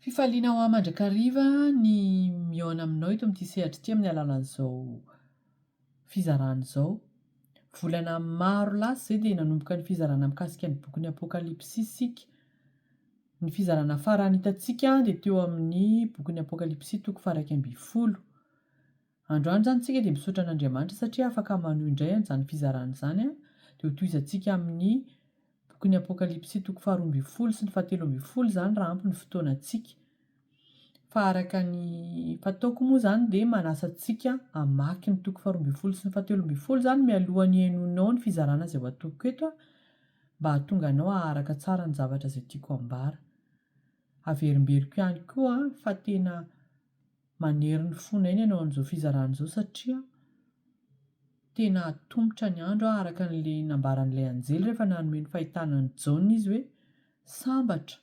Fifaliana ho ahy mandrakariva ny mihaona aminao eto amin'ity sehatra ity amin'ny alalan'izao fizarana izao. Volana maro lasa izay dia nanomboka ny fizarana mikasika ny bokin'ny Apokalypsy isika. Ny fizarana farany hitantsika dia teo amin'ny bokin'ny Apokalypsy toko faha iraika ambin'ny folo. Androany izany isika dia misaotra an'Andriamanitra satria afaka manohy indray an'izany fizarana izany, dia ho tohizantsika amin'ny bokin'ny Apokalypsy toko faharoa ambin'ny folo sy ny fahatelo ambin'ny folo izany raha ampy ny fotoanantsika. Fa araka ny fataoko moa izany dia manasa antsika hamaky ny toko faharoa ambin'ny folo sy ny fahatelo ambin'ny folo izany mialohan'ny henoinao ny fizarana izay ho atoloko eto aho mba hahatonga anao haharaka tsara ny zavatra izay tiako hambara. Averimberiko ihany koa fa tena Manery ny fona eny anao an'izao fizarana izao satria tena hatomotra ny andro araka an'ilay nambaran'ilay anjely rehefa nanome ny fahitana an'i Jaona izy hoe sambatra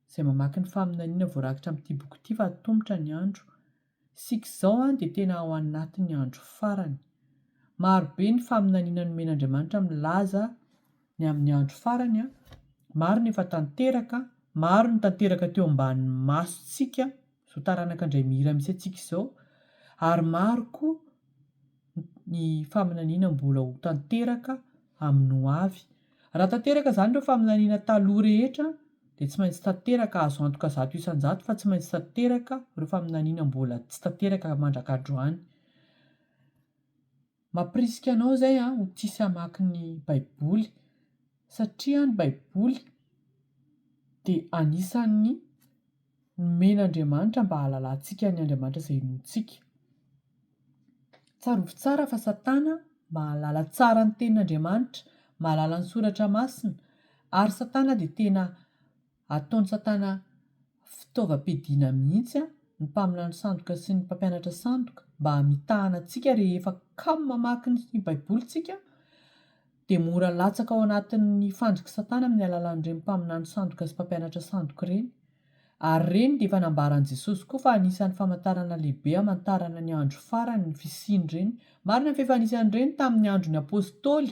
izay mamaky ny faminaniana voarakitra amin'ity boky ity fa hatomotra ny andro. Isika izao dia tena ao anatin'ny andro farany. Maro be ny faminaniana nomen'Andriamanitra milaza ny amin'ny andro farany, maro ny efa tanteraka, maro ny tanteraka teo ambanin'ny masontsika Izao taranaka indray mihira mihitsy antsika izao ary maro koa ny faminaniana mbola ho tanteraka amin'ny ho avy. Raha tanteraka izany ireo faminaniana taloha rehetra dia tsy maintsy tanteraka, azo antoka zato isan-jato fa tsy maintsy tanteraka ireo faminaniana mbola tsy tanteraka mandrak'androany. Mampirisika anao izay ho tia sy hamaky ny Baiboly, satria ny Baiboly dia anisan'ny nomen'Andriamanitra mba hahalalantsika ny Andriamanitra izay inoantsika. Tsarovy tsara fa Satana mahalala tsara ny Tenin'Andriamanitra, mahalala ny Soratra Masina, ary Satana dia tena Ataon-tsatana fitaovam-piadiana mihitsy ny mpaminany sandoka sy ny mpampianatra sandoka mba hamitahana antsika rehefa kamo mamaky ny baibolintsika dia mora latsaka ao anatin'ny fandrik'i satana amin'ny alalan'ireny mpaminany sandoka sy mpampianatra sandoka ireny ary ireny dia efa nambaran'i jesosy koa fa anisan'ny famantarana lehibe hamantarana ny andro farany ny fisian'ireny marina fa efa anisan'ireny tamin'ny andron'ny apostoly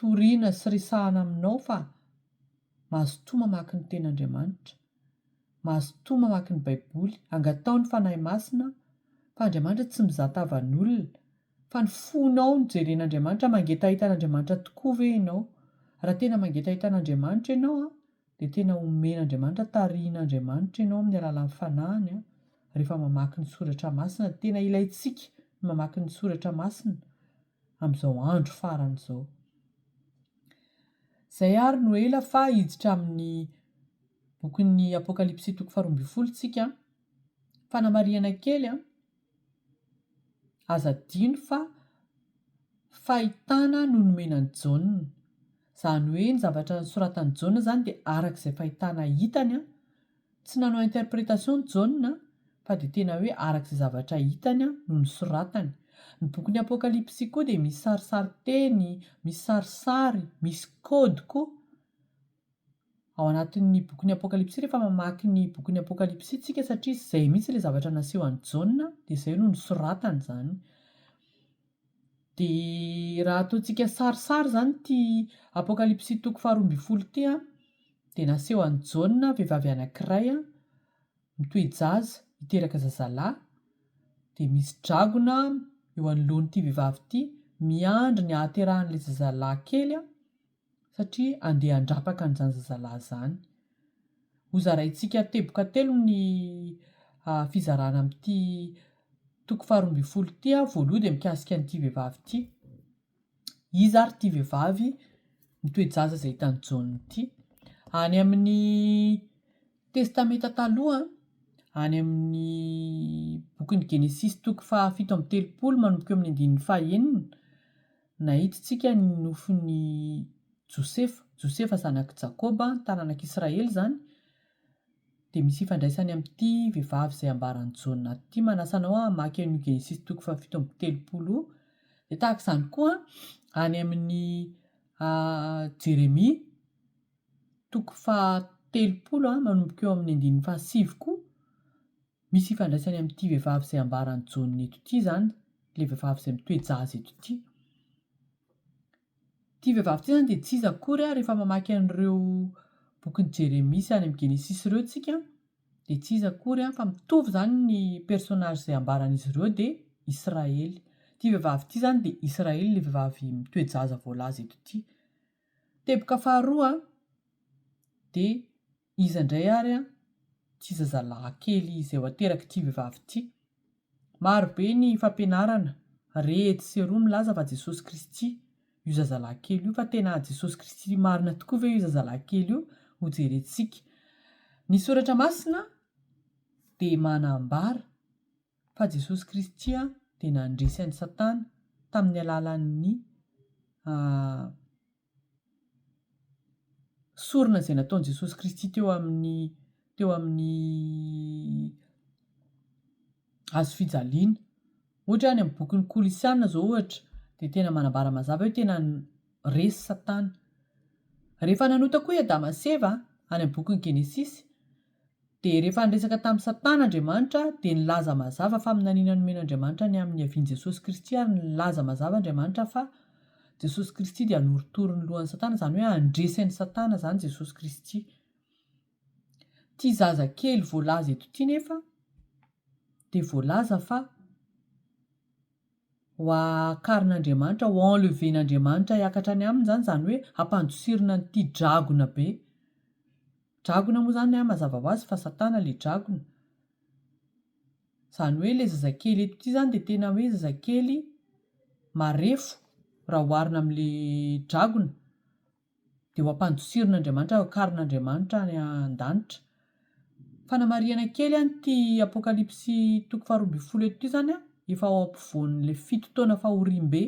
Torina sy resahana aminao fa mazotoa mamaky ny Tenin'Andriamanitra, mazotoa mamaky ny Baiboly, angataho ny Fanahy Masina fa Andriamanitra tsy mizaha tavan'olona, fa ny fonao no jeren'Andriamanitra, mangetaheta an'Andriamanitra tokoa ve ianao? Raha tena mangetaheta an'Andriamanitra ianao an, dia tena omen'Andriamanitra, tarihin'Andriamanitra ianao amin'ny alalan'ny Fanahiny an, rehefa mamaky ny Soratra Masina, tena ilaintsika ny mamaky ny Soratra Masina, amin'izao andro farany izao. Izay ary no ela fa hiditra amin'ny bokin'ny Apokalypsy toko faharoa ambin'ny folo isika. Fanamarihana kely an! Aza adino fa fahitana no nomena an'i Jaona. Izany hoe ny zavatra nosoratan'i Jaona izany dia araka izay fahitana hitany Tsy nanao interprétation ny Jaona fa dia tena hoe araka izay zavatra hitany no nosoratany. Ny bokin'ny Apokalypsy koa dia misy sarisarin-teny, misy sarisary, misy code koa ao anatin'ny bokin'ny Apokalypsy rehefa mamaky ny bokin'ny Apokalypsy isika satria izay mihitsy ilay zavatra nasehon'i Jaona dia izay no nosoratany izany. Dia raha ataontsika sarisary izany ity Apokalypsy toko faharoa ambin'ny folo ity, dia naseho an'i Jaona vehivavy anankiray mitoe-jaza hiteraka zazalahy, dia misy dragona eo anoloan'ity vehivavy ity miandry ny hahaterahan'ilay zazalahy kely, satria andeha handrapaka an'izany zazalahy izany. Hozaraintsika teboka telo ny fizarana amin'ity toko faharoa ambin'ny folo ity. Voalohany dia mikasika an'ity vehivavy ity. Iza ary ity vehivavy mitoe-jaza izay hitan'i Jaona ity? Any amin'ny Testamenta Taloha, any amin'ny bokin'ny Genesisy toko fahafito amby telopolo manomboka eo amin'ny andininy fahenina, Nahitintsika ny nofin'i Josefa. Josefa zanak'i Jakoba, ny taranak'Israely izany. Dia misy ifandraisany amin'ity vehivavy izay ambaran'i Jaona ity. Manasa anao hamaky an'io Genesisy toko fahafito amby telopolo io. Dia tahaka izany koa any amin'ny Jeremia toko fahatelopolo manomboka eo amin'ny andininy fahasivy koa Misy ifandraisany amin'ity vehivavy izay ambaran'i Jaona eto ity izany, ilay vehivavy izay mitoe-jaza eto ity. Ity vehivavy ity izany dia tsy iza akory ary rehefa mamaky an'ireo bokin'i Jeremia sy any amin'ny Genesisy ireo isika dia tsy iza akory fa mitovy izany ny personnage izay ambaran'izy ireo dia Israely. Ity vehivavy ity izany dia Israely ilay vehivavy mitoe-jaza voalaza eto ity. Teboka faharoa dia Iza indray ary an? Tsy zazalahy kely izay ho aterak'ity vehivavy ity. Maro be ny fampianarana re etsy sy eroa milaza fa Jesosy Kristy io zazalahy kely io fa tena Jesosy Kristy marina tokoa ve io zazalahy kely io? Hojerentsika. Ny Soratra Masina dia manambara fa Jesosy Kristy dia nandresy an'i Satana tamin'ny alalan'ny Sorona izay nataon'i Jesosy Kristy teo amin'ny teo amin'ny hazo fijaliana. Ohatra hoe any amin'ny bokin'ny Kolosiana izao ohatra dia tena manambara mazava hoe tena resy Satana. Rehefa nanota koa i Adama sy Eva any amin'ny bokin'i Genesisy. Dia rehefa niresaka tamin'i Satana Andriamanitra, dia nilaza mazava faminaniana nomen'Andriamanitra ny amin'ny niavian'i Jesosy Kristy ary nilaza mazava Andriamanitra fa Jesosy Kristy dia hanorotoro ny lohan'i Satana, izany hoe handresy an'i Satana izany Jesosy Kristy. Ity zaza kely voalaza eto ity nefa dia voalaza fa Ho akarin'Andriamanitra, ho enleven'Andriamanitra hiakatra any aminy izany, izany hoe hampandosirina an'ity dragona be. Dragona moa izany an, mazava ho azy fa Satana ilay dragona. Izany hoe ilay zazakely eto ity izany dia tena hoe zazakely marefo raha oharina amin'ilay dragona. dia ho ampandosirin'Andriamanitra, hokaron'Andriamanitra any an-danitra. Fanamarihana kely an, ity Apokalypsy toko faharoa ambin'ny folo eto ity izany an, efa ao ampovoan'ilay fito taona fahoriambe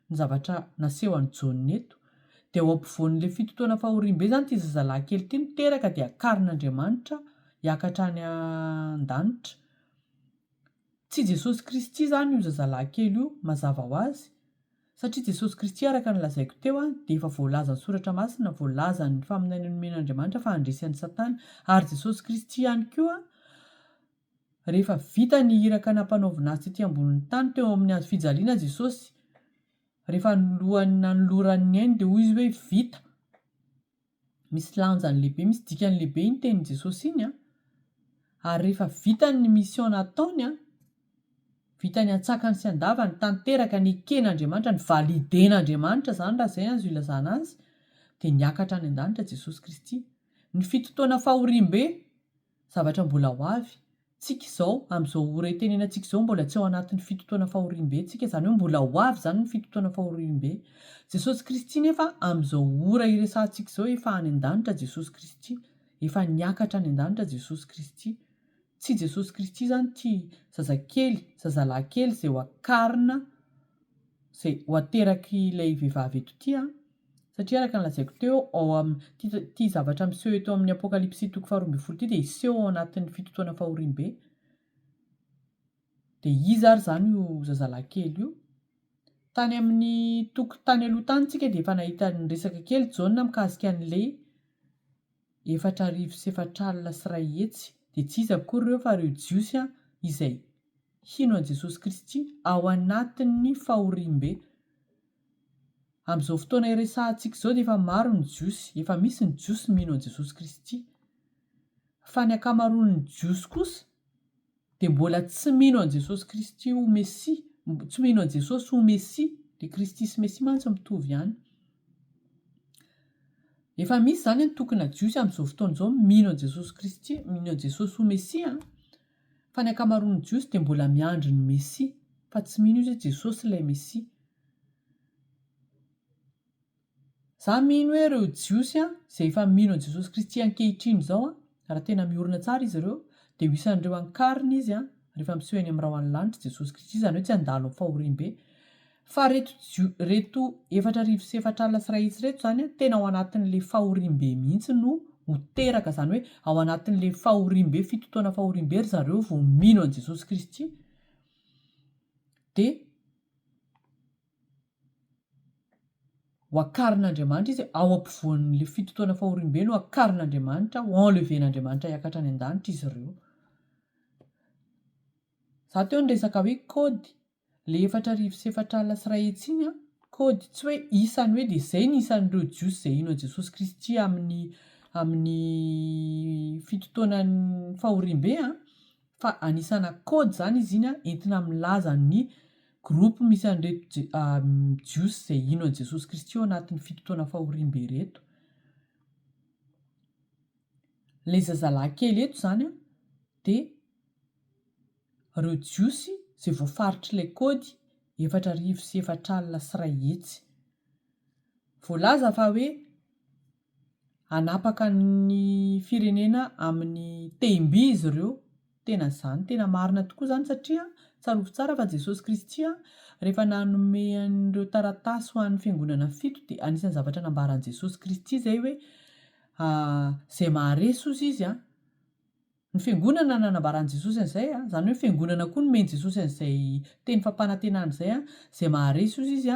ny zavatra naseho an'i Jaona eto. Dia ao ampovoan'ilay fito taona fahoriambe izany ity zazalahy kely ity no teraka dia karon'Andriamanitra hiakatra any an-danitra. Tsy Jesosy Kristy izany io zazalahy kely io, mazava ho azy, Satria Jesosy Kristy araka ny lazaiko teo dia efa voalazan'ny soratra masina, voalazan'ny faminaniana nomen'Andriamanitra fa handresy an'i Satana, ary Jesosy Kristy ihany koa rehefa vita ny iraka nampanaovina Azy tety ambonin'ny tany teo amin'ny hazo fijaliana Jesosy rehefa alohan'ny nanolorany ny ainy dia hoy Izy hoe vita, Misy lanjany lehibe, misy dikany lehibe iny tenin'i Jesosy iny an! Ary rehefa vitany ny mission nataony an, vitany antsakany sy andavany, tanteraka, neken'Andriamanitra, nivaliden'Andriamanitra izany raha izay azo ilazana azy, dia niakatra any an-danitra Jesosy Kristy. Ny fitotoana fahoriambe. Zavatra mbola ho avy. Tsika izao, amin'izao ora itenenantsika izao, mbola tsy ao anatin'ny fito taona fahoriambe tsika, izany hoe mbola ho avy izany ny fito taona fahoriambe. Jesosy Kristy nefa amin'izao ora iresahantsika izao efa any an-danitra Jesosy Kristy. Efa niakatra any an-danitra Jesosy Kristy. Tsy Jesosy Kristy izany ity zazakely, zazalahikely izay ho akarina, izay ho ateraky ilay vehivavy eto ity an! Satria araka ny lazaiko teo, ao amin' ity zavatra miseho eto amin' ny Apôkalipsy toko faharoa ambin'ny folo ity dia hiseho ao anatin' ny Fitotoana Fahoriambe. Dia iza ary izany io zazalahy kely io? Tany amin' ny toko tany aloha tany isika dia efa nahita niresaka kely Jaona mikasika an' ilay efatra arivo sy efatra alina sy iray hetsy, dia tsy iza akory ireo fa ireo Jiosy izay hino an' i Jesosy Kristy ao anatin' ny fahoriambe. Amin'izao fotoana iresahantsika izao dia efa maro ny Jiosy, efa misy ny Jiosy mino an'i Jesosy Kristy. Fa ny ankamaroan'ny Jiosy kosa dia mbola tsy mino an'i Jesosy Kristy ho Mesia, tsy mino an'i Jesosy ho Mesia, dia Kristy sy Mesia mantsy mitovy ihany. Efa misy izany antokona Jiosy amin'izao fotoana izao mino an'i Jesosy Kristy, mino an'i Jesosy ho Mesia. Fa ny ankamaroan'ny Jiosy dia mbola miandry ny Mesia, fa tsy mino izy hoe Jesosy ilay Mesia. Izaho mino hoe ireo Jiosy izay efa mino an'i Jesosy Kristy ankehitriny izao, raha tena miorina tsara izy ireo, dia ho isan'ireo ankarina Izy rehefa miseho eny amin'ny rahona ny lanitra i Jesosy Kristy, izany hoe tsy handalo amin'ny fahoriam-be. Fa reto reto efatra arivo sy efatra alina sy iray hetsy reto zany an tena ao anatin'le fahoriambe mihitsy no ho teraka zany hoe ao anatin'le fahoriambe fito taona fahoriambe ry zareo vao mino an'i Jesosy Kristy de ho akarin'Andriamanitra izy ao ampovoan'le fito taona fahoriambe no akarin'Andriamanitra ho enleven'Andriamanitra hiakatra any an-danitra izy ireo za teo ny resaka hoe kody Ilay efatra arivo sy efatra alina sy iray hetsy iny an, kody, tsy hoe isany hoe dia izay ny isan'ireo Jiosy izay hino an'i Jesosy Kristy amin'ny amin'ny fito taonan'ny fahoriambe an, fa anisana kody izany izy iny an, entina milaza ny groupe misy an'ireto Je- ah, Jiosy izay hino an'i Jesosy Kristy ao anatin'ny fito taona fahoriambe ireto. Ilay zazalahy kely eto izany an, dia reo jiosy zay voafaritry lay kody efatra arivo sy efatra alina sy ray hetsy voalaza fa hoe hanapaka ny firenena aminy tehim-by izy reo tena zany tena marina tokoa zany satria tsarovy tsara fa jesosy kristy an refa nanome an'ireo taratasy ho an'ny fiangonana fito dia anisan'ny zavatra nambaran'i jesosy kristy zay hoe zay maharesy ozy izy an Ny Fiangonana nanambara an'i Jesosy an'izay, izany hoe ny Fiangonana koa nomeny Jesosy an'izay teny fampanantenana izay, Izay maharesy ozy izy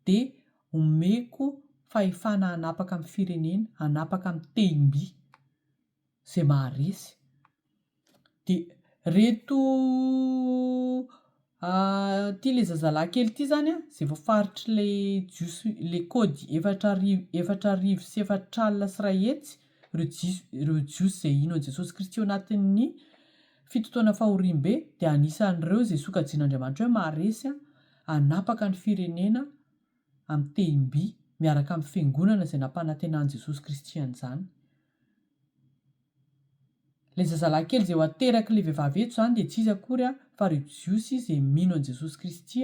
dia homeko fahefana hanapaka amin'ny firenena, hanapaka amin'ny tehim-by. Izay maharesy. Dia ireto Ahh ity le zazalahy kely ity zany an ze voafaritry le jiosy le kôdy efatra arivo efatra arivo sy efatra alina sy ray hetsy reo jiosy reo jiosy ze hino an'i Jesosy Kristy eo anatin'ny fito taona fahoriambe dia anisan'ireo ze sokajian'Andriamanitra hoe maharesy an hanapaka ny firenena amin'ny tehim-by miaraka amin'ny fiangonana izay nampanantenan'i Jesosy Kristy an'izany Ilay zazalahy kely izay ho aterak'ilay vehivavy eto izany dia tsy iza akory fa ireo Jiosy izay mino an'i Jesosy Kristy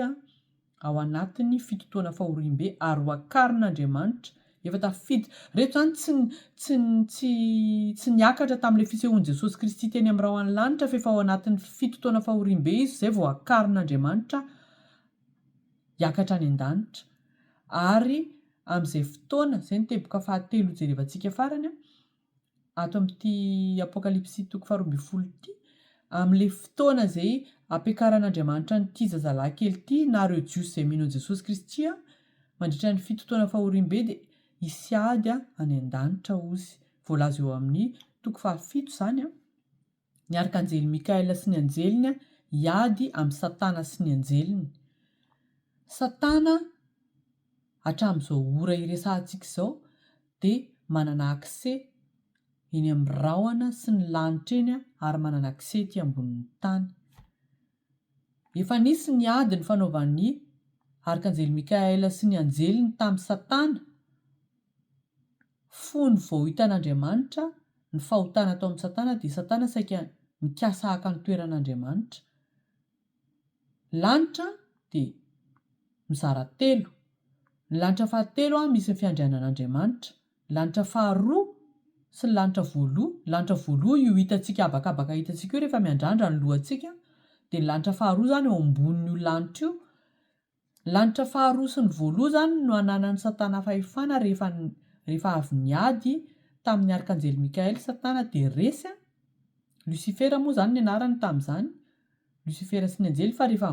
ao anatin'ny fito taona fahoriambe ary ho akarin'Andriamanitra efa tafiditra. Ireto izany tsy tsy tsy tsy niakatra tamin'ilay fisehoan'i Jesosy Kristy teny amin'ny rahona ny lanitra fa efa ao anatin'ny fito taona fahoriambe izy izay vao akarin'Andriamanitra hiakatra any an-danitra ary amin'izay fotoana, izay ny teboka fahatelo hojerevantsika farany ato amin'ity Apokalypsy toko faharoa ambin'ny folo ity, amin'ilay fotoana izay ampiakaran'Andriamanitra an'ity zazalahy kely ity na ireo Jiosy izay mino an'i Jesosy Kristy mandritra ny fito taona fahoriambe dia hisy ady any an-danitra ozy, voalaza eo amin'ny toko fahafito izany. Ny Arkanjely Mikaela sy ny anjeliny hiady amin'i Satana sy ny anjeliny. Satana hatramin'izao ora iresahantsika izao dia manana accès eny amin'ny rahona sy ny lanitra eny ary manana accès ety ambonin'ny tany. Efa nisy ny ady nifanaovan'ny Arkanjely Mikaela sy ny anjeliny tamin'i Satana, fony vao hitan'Andriamanitra ny fahotana atao amin'i Satana dia Satana saika nikasa haka ny toeran'Andriamanitra. Ny lanitra dia mizara telo. Ny lanitra fahatelo misy ny fiandrianan'Andriamanitra. Lanitra faharoa sy ny lanitra voaloha, ny lanitra voaloha io hitantsika habakabaka hitantsika io rehefa miandrandra ny lohantsika, dia ny lanitra faharoa izany eo ambonin'io lanitra io. Ny lanitra faharoa sy ny voaloha izany no ananan'i Satana fahefana rehefa rehefa avy niady tamin'ny Arkanjely Mikael Satana dia resy an! Lucifera moa izany ny anarany tamin'izany, Losifera sy ny anjely fa rehefa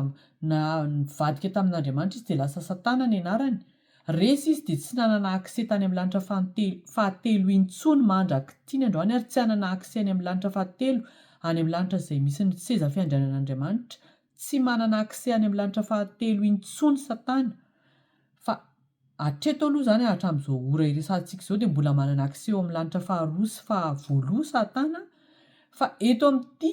na nivadika tamin'Andriamanitra izy dia lasa Satana ny anarany. Resy izy dia tsy nanana accès tany amin'ny lanitra fahantelo fahatelo intsony mandrak'itiny androany ary tsy hanana accès any amin'ny lanitra fahatelo any amin'ny lanitra izay misy ny seza fiandrianan'Andriamanitra. Tsy manana accès any amin'ny lanitra fahatelo intsony Satana fa hatreto aloha izany hatramin'izao ora iresahantsika izao dia mbola manana accès eo amin'ny lanitra faharoa sy fahavoaloha Satana fa eto amin'ity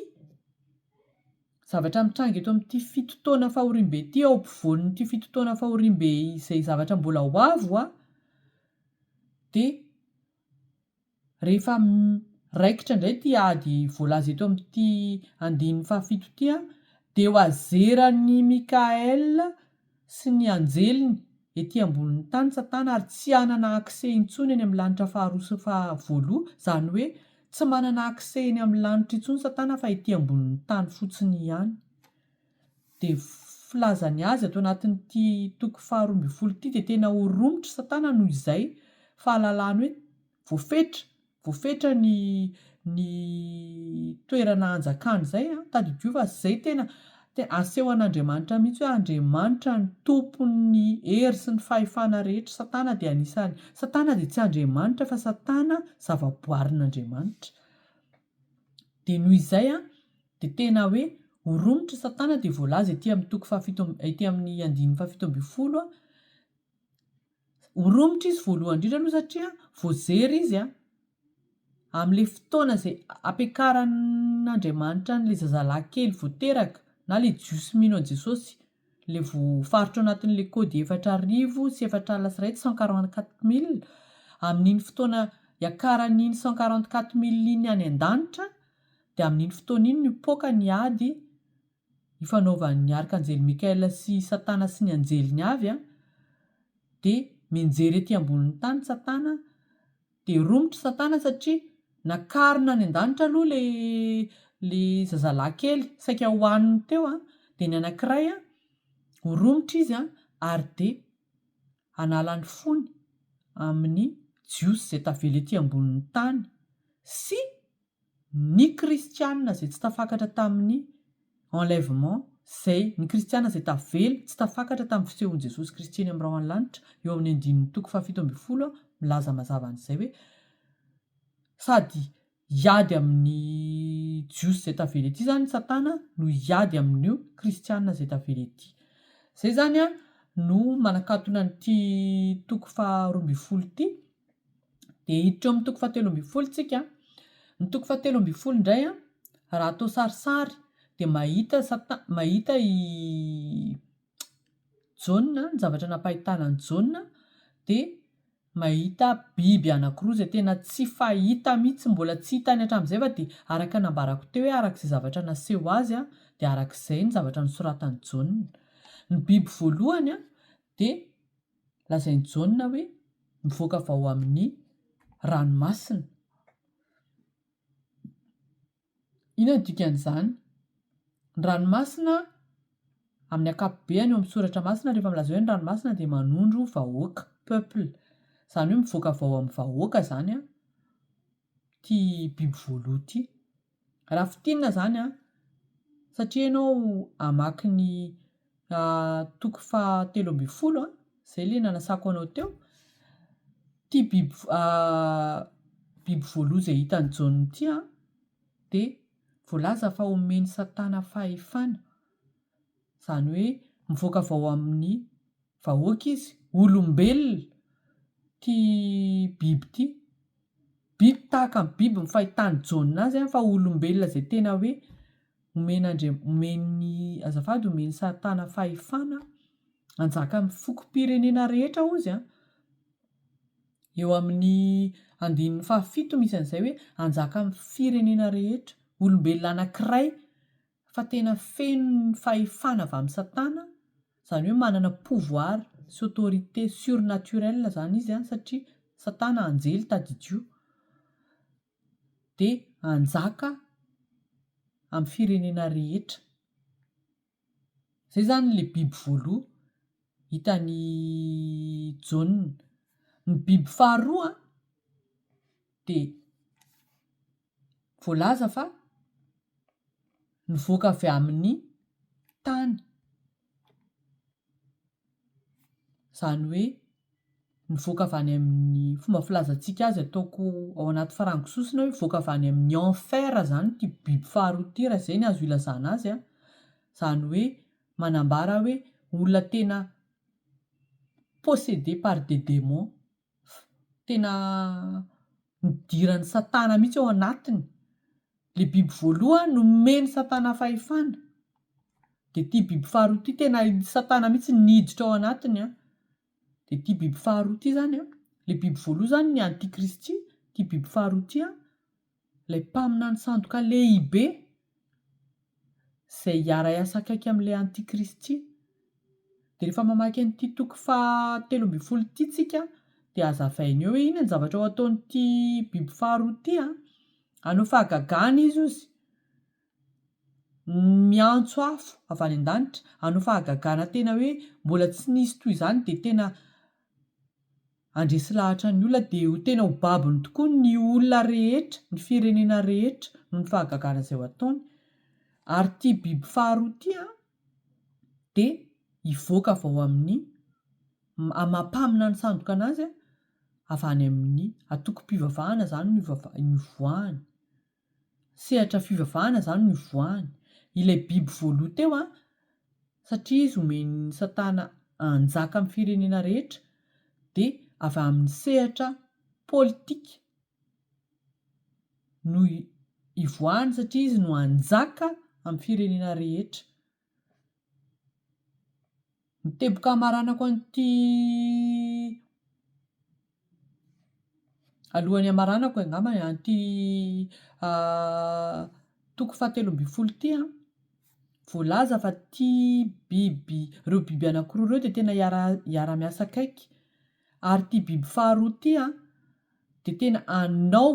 zavatra mitranga eto amin'ity fito taona fahoriambe ity, ao ampovoan'ity fito taona fahoriambe izay zavatra mbola ho avy ho dia rehefa raikitra indray ity ady voalaza eto amin'ity andininy fahafito ity dia ho azeran'i Mickaël sy ny anjeliny ety ambonin'ny tany satana ary tsy hanana accès intsony eny amin'ny lanitra faharoa sy fahavoaloha izany hoe tsy manana accès eny amin'ny lanitra intsony satana fa ety ambonin'ny tany fotsiny ihany dia filaza ny azy ato anatin'ity toko faharoa ambin'ny folo ity dia tena ho romotra satana noho izay fahalalany hoe voafetra voafetra ny ny toerana hanjakany izay an, tadidio fa izay tena tena aseho an'Andriamanitra mihitsy hoe Andriamanitra no tompon'ny hery sy ny fahefana rehetra, Satana dia anisany Satana dia tsy Andriamanitra fa Satana zavaboarin'Andriamanitra dia noho izay an dia tena hoe ho romotry Satana dia voalaza ety amin'ny toko fahafito ety amin'ny andininy fahafito ambin'ny folo an, Ho romotra izy voalohany indrindra aloha satria voazery izy an, amin'ilay fotoana izay ampiakaran'Andriamanitra an'ilay zazalahy kely vao teraka na ilay jiosy mino an'i Jesosy, ilay voafaritra ao anatin'ilay kody efatra arivo sy efatra alina sy iray tsy cent quarante quatre mille, amin'iny fotoana iakaran'iny cent quarante quatre mille iny any an-danitra dia amin'iny fotoana iny no hipoaka ny ady ifanaovan'ny Arkanjely Mikaela sy i Satana sy ny anjeliny avy dia mianjera ety ambonin'ny tany Satana dia romotra Satana satria nakarina any an-danitra aloha ilay ilay zazalahy kely saika hohaniny teo dia ny anankiray ho romotra izy ary dia hanala ny fony amin'ny Jiosy izay tavela ety ambonin'ny tany sy Ny kristiana izay tsy tafakatra tamin'ny enlèvement izay, ny kristiana izay tavela, tsy tafakatra tamin'ny fisehon'i Jesosy Kristy eny amin'ny rahon'ny lanitra, eo amin'ny andininy toko fahafito ambin'ny folo, milaza mazava an'izay hoe, Sady hiady amin'ny Jiosy izay tavela ety izany Satana no hiady amin'io kristiana izay tavela ety. Izay izany no manakatona an'ity toko faharoa ambin'ny folo ity. Dia hiditra eo amin'ny toko fahatelo ambin'ny folo isika. Ny toko fahatelo ambin'ny folo indray, raha atao sarisary, dia mahita sata- mahita i Jaona, ny zavatra nampahitana an'i Jaona, dia mahita biby anankiroa izay tena tsy fahita mihitsy, mbola tsy hitany hatramin'izay fa dia araka ny nambarako teo hoe araka izay zavatra naseho ho azy dia araka izay ny zavatra nosoratan'i Jaona. Ny biby voalohany dia lazain'i Jaona hoe mivoaka avy ao amin'ny ranomasina. Inona no dikan'izany? Ny ranomasina amin'ny ankapobeny eo amin'ny soratra masina rehefa milaza hoe ny ranomasina dia manondro vahoaka, peuple. Izany hoe mivoaka avy ao amin'ny vahoaka izany an. ity biby voaloha ity. Raha fintinina izany an, satria ianao hamaky ny toko fahatelo ambin'ny folo an, izay ilay nanasako anao teo, ity biby biby voaloha izay hitan'i Jaona ity an, dia voalaza fa omen'i Satana fahefana. Izany hoe mivoaka avy ao amin'ny vahoaka izy, olombelona ity biby ity. Biby tahaka ny biby ny fahitan'i Jaona azy fa olombelona izay tena hoe omen'Andriam- omen'ny, azafady, omen'i Satana fahefana hanjaka amin'ny fokom-pirenena rehetra hozy an! Eo amin'ny andininy fahafito misy an'izay hoe hanjaka amin'ny firenena rehetra. Olombelona anankiray. fa tena feno ny fahefana avy amin'i Satana, izany hoe manana pouvoir sy autorité surnaturelle izany izy an, satria Satana anjely tadidio, dia hanjaka amin'ny firenena rehetra. Izay izany ilay biby voaloha hitan'i Jaona. Ny biby faharoa dia voalaza fa nivoaka avy amin'ny tany, izany hoe nivoaka avy any amin'ny, fomba filazantsika azy ataoko ao anaty farango sosona hoe mivoaka avy any amin'ny enfer izany ity biby faharoa ity raha izay no azo ilazana azy an, izany hoe manambara hoe olona tena possédé par des démons. tena nidiran'i Satana mihitsy ao anatiny. Ilay biby voalohany nomen'i Satana fahefana, dia ity biby faharoa ity tena i Satana mihitsy niditra ao anatiny. Dia ity biby faharoa ity izany, ilay biby voalohany izany ny antikristy, ity biby faharoa ity Ilay mpaminany sandoka lehibe izay hiara-hiasa akaiky amin'ilay antikristy. Dia rehefa mamaky an'ity toko faha telo ambin'ny folo ity tsika dia hazavainy eo hoe inona ny zavatra ho ataon'ity biby faharoa ity an! Hanao fahagagana izy ozy miantso afo avy any an-danitra hanao fahagagana tena hoe mbola tsy nisy toy izany dia tena Handresy lahatra ny olona dia ho tena ho babony tokoa ny olona rehetra, ny firenena rehetra noho ny fahagagana izay ho ataony. Ary ity biby faharoa ity an, dia hivoaka avy ao amin'ny, amam-pamina ny sandoka anazy an, avy any amin'ny antokom-pivavahana izany no ivoahany. sehatra fivavahana izany no ivoahany. Ilay biby voaloha teo an, satria izy omen'i Satana hanjaka amin'ny firenena rehetra, dia avy amin'ny sehatra politika no ivoahany, satria izy no hanjaka amin'ny firenena rehetra. Ny teboka hamaranako an'ity alohan'ny hamaranako e angamba an'ity toko fahatelo ambin'ny folo ity an, voalaza fa ity biby ireo biby anankiroa ireo dia tena hiara-miasa akaiky ary ity biby faharoa ity an. dia tena hanao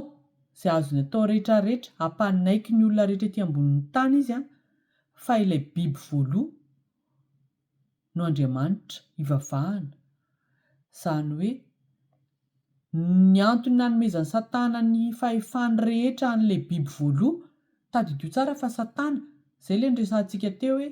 izay azony atao rehetrarehetra hampanaiky ny olona rehetra ety ambonin'ny tany izy fa ilay biby voaloha no Andriamanitra ivavahana, izany hoe ny antony nanomezan'i Satana ny fahefany rehetra an'ilay biby voaloha, tadidio tsara fa Satana, izay ilay niresahantsika teo hoe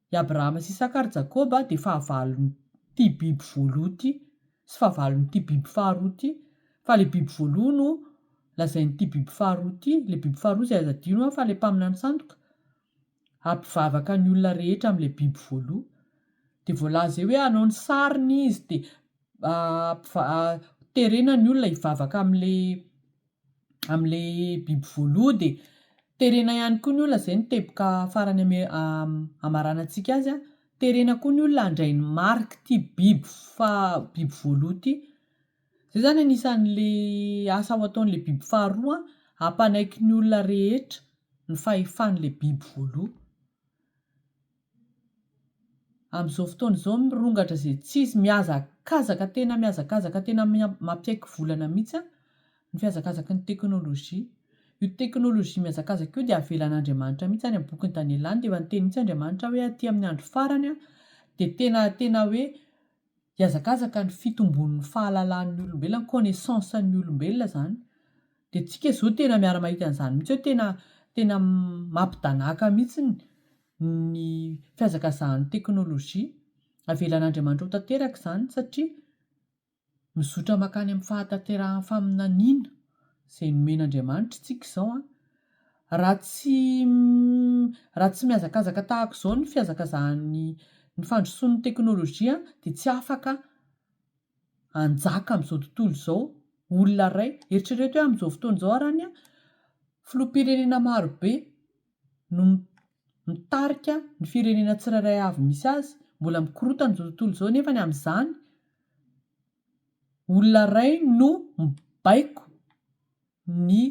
I Abrahama sy Isaka ary Jakoba dia fahavalon'ity biby voaloha ity sy fahavalon'ity biby faharoa ity, fa ilay biby voaloha no lazain'ity biby faharoa ity, ilay biby faharoa izay aza adino an fa ilay mpaminany sandoka, hampivavaka ny olona rehetra amin'ilay biby voaloha, dia voalaza eo hoe hanao ny sariny izy dia terena ny olona hivavaka amin'ilay amin'ilay biby voaloha dia terena ihany koa ny olona izay ny teboka farany ame- hamaranantsika azy a, terena koa ny olona handray ny marik'ity biby faha- biby voaloha ity. Izay izany anisan'ilay asa ho ataon'ilay biby faharoa hampanaiky ny olona rehetra ny fahefan'ilay biby voaloha. Amin'izao fotoana izao mirongatra izay tsy izy, mihazakazaka tena mihazakazaka tena mampiaiky volana mihitsy ny fihazakazaky ny teknolojia. Io teknolojia mihazakazaka io dia avelan'Andriamanitra mihitsy, any amin'ny bokin'i Daniela any dia efa niteny mihitsy Andriamanitra hoe aty amin'ny andro farany dia tena tena hoe hihazakazaka ny fitombon'ny fahalalan'ny olombelona, ny connaissance an'ny olombelona izany. Dia isika izao tena miara-mahita an'izany mihitsy hoe tena tena mampidanàka mihitsy. ny fihazakazahan'ny teknolojia. Avelan'Andriamanitra ho tanteraka izany satria mizotra mankany amin'ny fahatanterahan'ny faminaniana izay nomen'Andriamanitra isika izao. Raha tsy raha tsy mihazakazaka tahaka izao ny fihazakazahan'ny ny fandrosoan'ny teknolojia dia tsy afaka hanjaka amin'izao tontolo izao olona iray. Eritrereto hoe amin'izao fotoana izao ary any filoham-pirenena marobe no mitarika ny firenena tsirairay avy misy azy, mbola mikorontana izao tontolo izao nefany amin'izany olona iray no mibaiko ny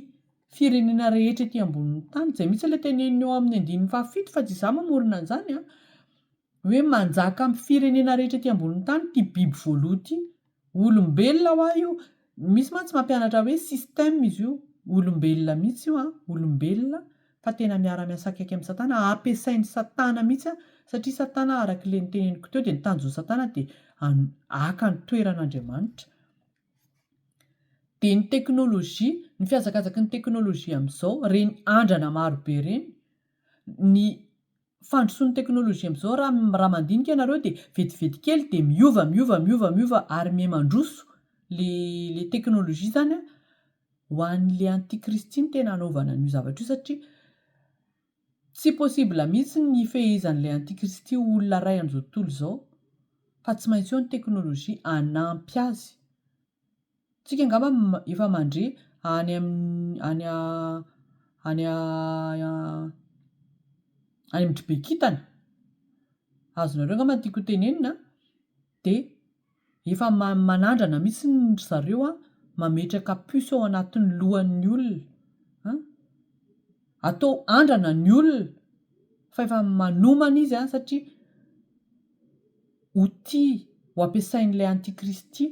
firenena rehetra ety ambonin'ny tany, izay mihitsy ilay teneniny ao amin'ny andininy fahafito fa tsy izaho mamorona an'izany an! hoe manjaka amin'ny firenena rehetra ety ambonin'ny tany ity biby voaloha ity. Olombelona ho'a io. Misy mantsy mampianatra hoe système izy io. Olombelona mihitsy io an, olombelona fa tena miara-miasa akaiky amin'i Satana. Ampiasain'i Satana mihitsy an, satria Satana arak'ilay noteneniko teo dia ny tanjon'i Satana dia haka ny toeran'Andriamanitra. Dia ny teknolojia, ny fihazakazaky ny teknolojia amin'izao, ireny andrana marobe ireny, ny fandrosoan'ny teknolojia amin'izao raha mandinika ianareo dia vetivety kely dia miova miova miova miova ary miha mandroso ilay teknolojia izany an, ho an'ilay antikristy no tena hanaovana an'io zavatra io satria tsy possible mihitsy ny hifehezan'ilay antikristy ho olona iray amin'izao tontolo izao fa tsy maintsy eo ny teknolojia hanampy azy. Tsika angamba efa mandre any amin'ny any any any amin'ny dribe kintana, azonareo angamba ny tiako ho tenenina a, de efa manandrana mihitsy ry zareo a, mametraka puce ao anatin'ny lohan'ny olona an, atao andrana ny olona fa efa manomana izy an satria outil ho ampiasain'ilay antikristy.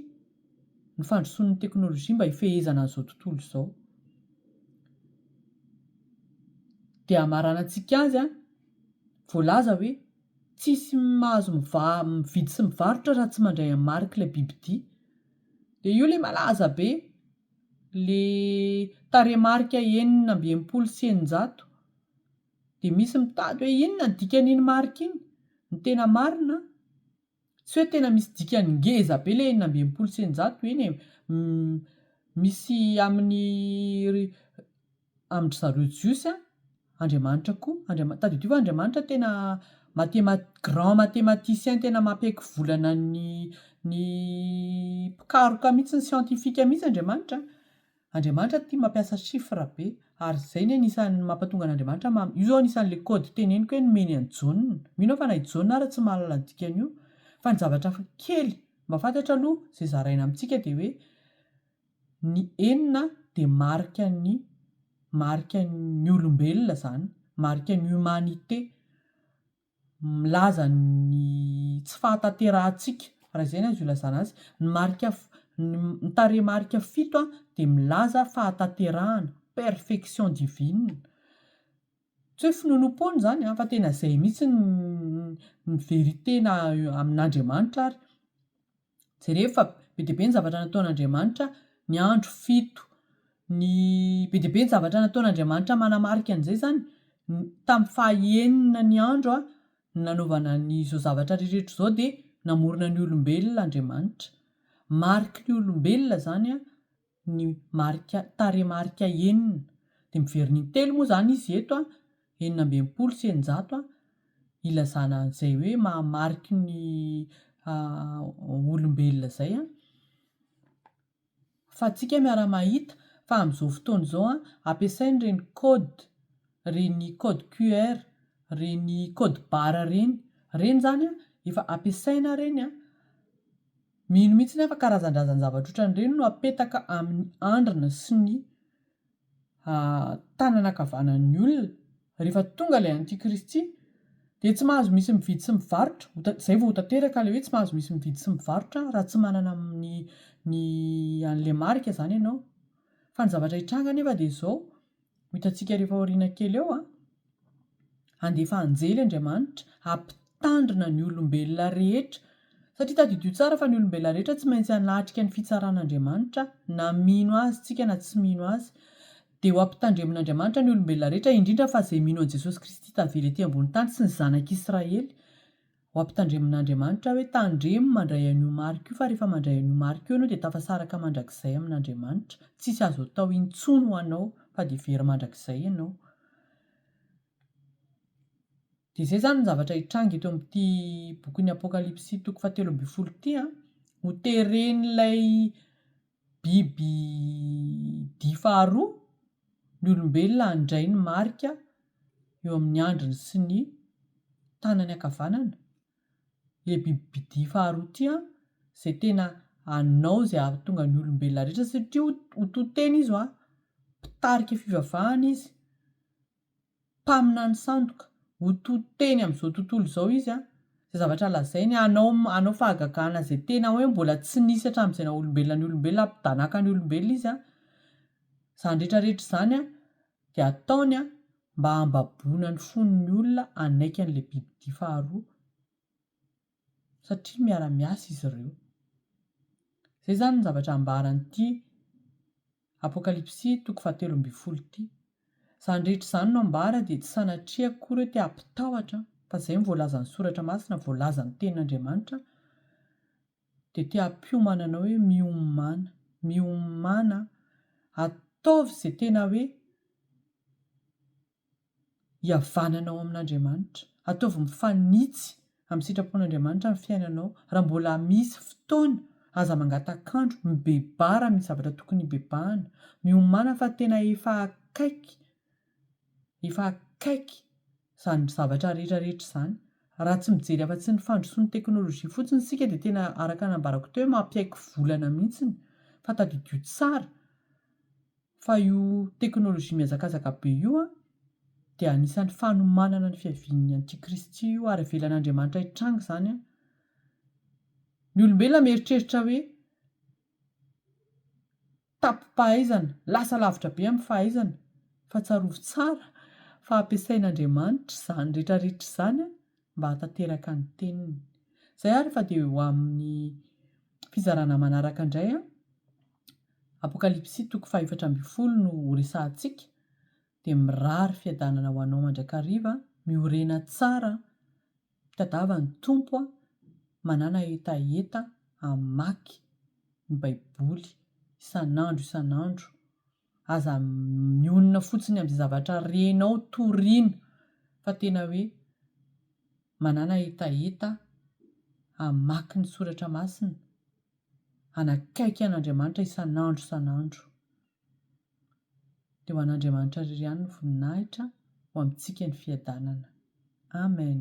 ny fandrosoan'ny teknolojia mba hifehezana an'izao tontolo izao. Dia hamaranantsika azy, voalaza hoe tsisy mahazo mividy sy mivarotra raha tsy mandray an'i Marc ilay bibidia. Dia io ilay malaza be, ilay tarehimarika enina amby enimpolo sy eninjato. Dia misy mitady hoe inona ny dikan'iny marika iny? Ny tena marina an! Tsy hoe tena misy dikany ngeza be le enina amby enimpolo sy eninjato eny e! Misy amin'ny amin-dry zareo jiosy an, Andriamanitra koa, Andriama- tadidio fa Andriamanitra tena mathema- grand mathematicien tena mampiaiky volana ny ny mpikaroka mihitsy, ny siantifika mihitsy Andriamanitra an! Andriamanitra tia mampiasa chiffres be ary zay ny anisan'ny mampatonga an'Andriamanitra ma io zao anisan'le code teneniko hoe nomeny an'i Jaona. Mino aho fa na i Jaona ary tsy mahalala ny dikan'io. Fa ny zavatra hafa kely mba fantatra aloha zay zaraina amintsika dia hoe ny enina dia marikan'ny marikan'ny olombelona zany, marikan'ny humanité. milaza ny tsy fahatanterahantsika, raha izay no azo ilazana azy. Ny marika, ny tarehimarika fito dia milaza fahatanterahana, perfection divine. Tsy hoe finoanoam-poana izany fa tena izay mihitsy ny ny vérité na amin'Andriamanitra ary. Jereo fa be dia be ny zavatra nataon'Andriamanitra ny andro fito. Ny be dia be ny zavatra nataon'Andriamanitra manamarika an'izay izany, tamin'ny fahaenina ny andro no nanaovana an'izao zavatra rehetra izao dia namorona ny olombelona Andriamanitra. Mariky ny olombelona izany ny marika tarehimarika enina dia miverina intelo moa izany izy eto a, enina amby enimpolo sy eninjato, ilazana an'izay hoe maha mariky ny olombelona izay a, fa antsika miara-mahita fa amin'izao fotoana izao a, ampiasaina ireny code, ireny code QR, ireny code barre ireny, ireny izany a, efa ampiasaina ireny a. Mino mihitsy aho fa karazan-drazan-javatra ohatran'ireny no apetaka amin'ny andrina sy ny tanana ankavanan'ny olona. Rehefa tonga ilay antikristy dia tsy mahazo misy mividy sy mivarotra, izay vao ho tanteraka ilay hoe tsy mahazo misy mividy sy mivarotra raha tsy manana ny ny an'ilay marika izany ianao. Fa ny zavatra hitranga anefa dia izao, Ho hitantsika ary efa aoriana kely eo an! Handefa anjely Andriamanitra hampitandrina ny olombelona rehetra. Satria tadidio tsara fa ny olombelona rehetra tsy maintsy hanatrika ny fitsaran'Andriamanitra, na mino Azy tsika na tsy mino Azy. Dia ho ampitandremin'Andriamanitra ny olombelona rehetra, indrindra fa izay mino an'i Jesosy Kristy tavela ety ambony tany sy ny zanak'Israely. Ho ampitandremin'Andriamanitra aho hoe tandremo mandray an'io marika io fa rehefa mandray an'io marika io ianao dia tafasaraka mandrakizay amin'Andriamanitra. Tsisy azo atao intsony ho anao fa dia very mandrakizay ianao. Dia izay izany ny zavatra hitranga eto amin'ity bokin'ny Apokalypsy toko fahatelo ambin'ny folo ity an. Ho teren'ilay Biby dia faharoa ny olombelona handray ny marika eo amin'ny andriny sy ny tanany ankavanana. Ilay bibidia faharoa ity an, izay tena hanao izay hahatonga ny olombelona rehetra satria ho to-tena izy hoa, mpitarika fivavahana izy. mpaminany sandoka, ho to teny amin'izao tontolo izao izy an, izay zavatra lazainy hanao hanao fahagagana izay tena hoe mbola tsy nisy hatramin'izay naha olombelona ny olombelona hampidanaka ny olombelona izy an, izany rehetra rehetra izany an dia ataony an mba hambaboana ny fon'ny olona hanaiky an'ilay bibidia faharoa. satria miara-miasa izy ireo. Izay izany ny zavatra ambaran'ity Apokalypsy toko fahatelo ambin'ny folo ity. Izany rehetra izany no ambara dia tsy sanatria akory hoe te hampitahotra fa izay no voalazan'ny Soratra Masina, voalazan'ny Tenin'Andriamanitra dia te hampiomana anao hoe miomana, miomana, ataovy izay tena hoe hihavanana ao amin'Andriamanitra. Ataovy mifanitsy amin'ny sitrapon'Andriamanitra ny fiainanao. Raha mbola misy fotoana, aza mangatak'andro, mibebara amin'ny zavatra tokony hibebahana. Miomàna fa tena efa akaiky, efa akaiky izany zavatra rehetrarehetra izany. Raha tsy mijery afa-tsy ny fandrosoan'ny teknolojia fotsiny isika dia tena araka ny nambarako teo hoe mampiaiky volana mihitsy. Fa tadidio tsara. Fa io teknolojia mihazakazaka be io dia anisan'ny fanomanana ny fiavian'ny antikristy io ary avelan'Andriamanitra hitranga izany an! Ny olombelona mieritreritra hoe tapim-pahaizana, lasa lavitra be amin'ny fahaizana, fa tsarovy tsara fa hampiasain'Andriamanitra izany rehetra rehetra izany an! mba hatateraka ny teniny. Zay ary fa dia ho amin'ny fizarana manaraka indray an! Apokalypsy toko fahefatra ambin'ny folo no ho resahantsika, dia mirary fiadanana ho anao mandrakariva, miorena tsara, tadava ny Tompo a, manàna hetaheta hamaky ny baiboly isan'andro isan'andro aza mionona fotsiny amin'izay zavatra renao toriana fa tena hoe manàna hetaheta hamaky ny soratra masina, hanakaiky an'Andriamanitra isan'andro isan'andro. Dia ho an'Andriamanitra irery ihany ny voninahitra, ho amintsika ny fiadanana. Amen.